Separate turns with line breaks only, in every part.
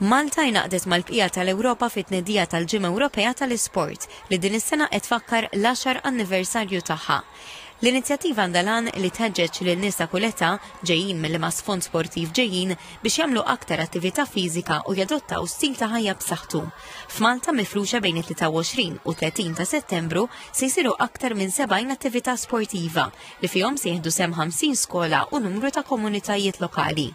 Malta ingħaqdet mal-bqija tal-Ewropa fit-tnedija tal-Ġimgħa Ewropea tal-Isport, li din is-sena qed tfakkar l-għaxar anniversarju tagħha. L-inizjattiva għandha l-għan li tħeġġeġ lil nies ta' kull età, ġejjin minn liema sfond sportiv ġejjin, biex jagħmlu aktar attività fiżika u jadottaw stil ta' ħajja b'saħħtu. F'Malta mifruxa bejn it-23 u 30 ta' Settembru se jsiru aktar minn 70 attività sportiva, li fihom se jieħdu sem 50 skola u numru ta' komunitajiet lokali.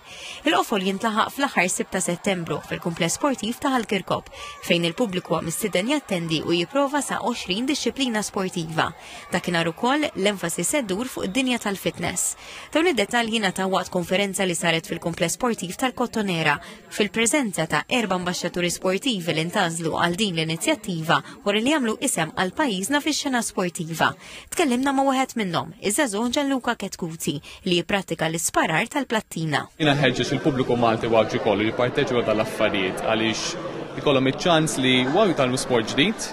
Il-qofol jintlaħaq fl-aħħar 6 ta' Settembru fil-kumpless sportiv ta' Ħalkirkop fejn il-pubbliku għam istiden jattendi u jipprova sa' 20 disċiplina sportiva. Dakinhar ukoll l-enfasi seddur fuq id-dinja tal-fitness. Dawn id-dettalji ta' waqt konferenza li saret fil-kumpless sportiv tal-Kottonera fil-preżenza ta' erba' ambasċaturi sportivi li ntażlu għal din l-inizjattiva wara li jagħmlu isem għal pajjiżna fix-xena sportiva. Tkellimna ma' wieħed minnhom, iż-żagħżugħ Gianluca Ketkuti, li jipprattika l-isparar tal-plattina. Jiena nħeġġeġ il-pubbliku
Malti Għawdxi kollu jipparteċipa dal-affarijiet għaliex ikollhom iċ-ċans li waw jitgħallmu sport ġdid,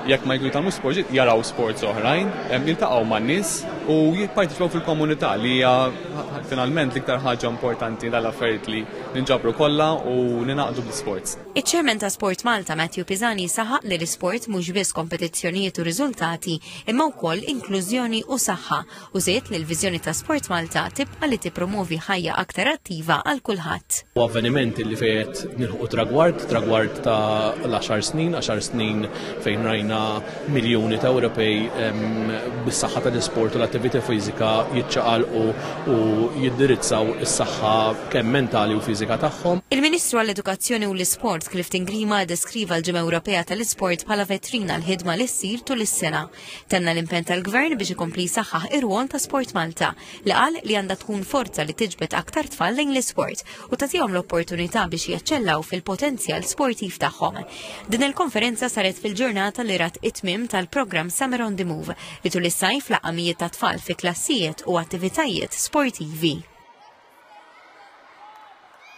jekk ma jkun jitgħallmu sport ġdid jaraw sports oħrajn, jiltaqgħu man-nies u jipparteċipaw fil-komunità li hija finalment l-iktar ħaġa importanti dal-affarijiet li ninġabru kollha u ninaqdu bl-sports. Iċ-Chairman ta'
SportMalta, Matthew Pisani saħaq li l-isport mhux biss kompetizzjonijiet u riżultati imma wkoll inklużjoni u saħħa u żied li l-viżjoni ta' SportMalta tibqa' li tippromwovi ħajja aktar attiva għal kulħadd. Huwa avveniment illi
fejn qed nilħqu tragward, tragward ta' l-għaxar snin, għaxar snin fejn rajna miljuni ta' Ewropej bis-saħħa tal-isport u l-attività fiżika jiċċaqalqu u jindirizzaw is-saħħa kemm mentali u fiżika tagħhom. Il-Ministru għall-Edukazzjoni
u l-Isport Clifton Grima deskriva l-Ġimgħa Ewropea tal-Isport bħala vetrina l-ħidma li ssir tul is-sena. Tenna l-impenn tal-Gvern biex ikompli jsaħħaħ ir-rwol ta' Sport Malta li qal li għandha tkun forza li tiġbed aktar tfal lejn l-isport u tagħtihom l-opportunità biex jaċċellaw fil-potenzjal sportiv tagħhom. Din il-konferenza saret fil-ġurnata li rat it-tmim tal-programm Summer on the Move li tul is-sajf laqamijiet ta' tfal fi klassijiet u attivitajiet sportivi.